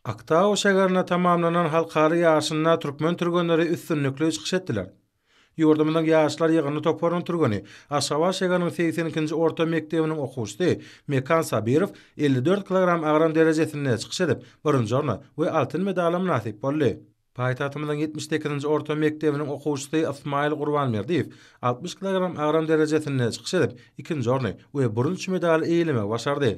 Aktau şäherinde tamamlanan halkara ýaryşynda türkmen türgenleri üstünlikli çykyş etdiler. Ýurdumyzyň ýaşlar ýygyndy toparynyň türgeni, Aşgabat şäheriniň segsen ikinji orta mekdebiniň okuwçysy Mekan Sabirow elli dört kilogram agram derejesinde çykyş edip, birinji orna we altyn medala mynasyp boldy. Paýtagtymyzyň ýetmiş sekizinji orta mekdebiniň okuwçysy Ysmaýyl Gurbanberdiýew altmyş kilogram agram derejesinde çykyş edip, ikinji orny we bürünç medaly eýelemegi başardy.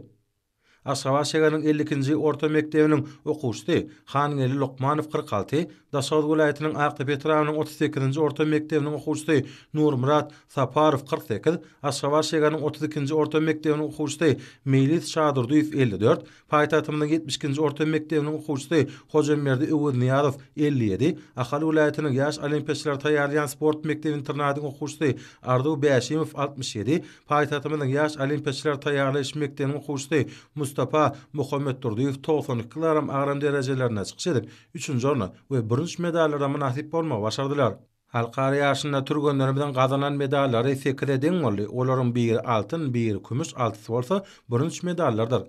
Aşgabat şäheriniň elli ikinji orta mekdebiniň okuwçysy Hangeldi Lokmanow kyrk alty, Daşoguz welaýatynyň Akdepe etrabynyň otuz sekizinji orta mekdebiniň okuwçysy Nurmyrat Saparow kyrk sekiz, Aşgabat şäheriniň otuz ikinji orta mekdebiniň okuwçysy Meýlis Şadurdyýew elli dört, paýtagtymyzyň ýetmiş ikinji orta mekdebiniň okuwçysy Hojamberdi Öweznyýazow elli ýedi, Ahal welaýatynyň ýaş olimpiýaçylary taýýarlaýan sport mekdep-internadyň okuwçysy Arzuw Bäşimow altmyş ýedi, Paýtagtymyzyň ýaş olimpiýaçylary taýýarlaýyş mekdebiniň okuwçysy Mustapa Muhammetdurdyýew togsan iki kilogram agram derejelerinde çykyş edip, üçünji orna we bürünç medallara mynasyp bolmagy başardylar. Halkara ýaryşynda türgenlerimiziň gazanan medallary sekize deň boldy, olaryň biri altyn, biri kümüş, altysy bolsa bürünç medallardyr.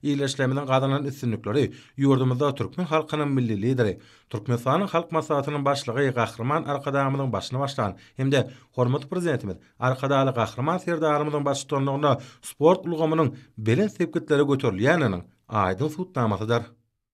Ildeşlerimiziň gazanan üstünlikleri ýurdumyzda türkmen halkynyň Milli Lideri, Türkmenistanyň Halk Maslahatynyň Başlygy Gahryman Arkadagymyzyň başyny başlan hem-de hormatly Prezidentimiz Arkadagly Gahryman Serdarymyzyň baştutanlygynda sport ulgamynyň belent sepgitlere göterilýändiginiň aýdyň subutnamasydyr.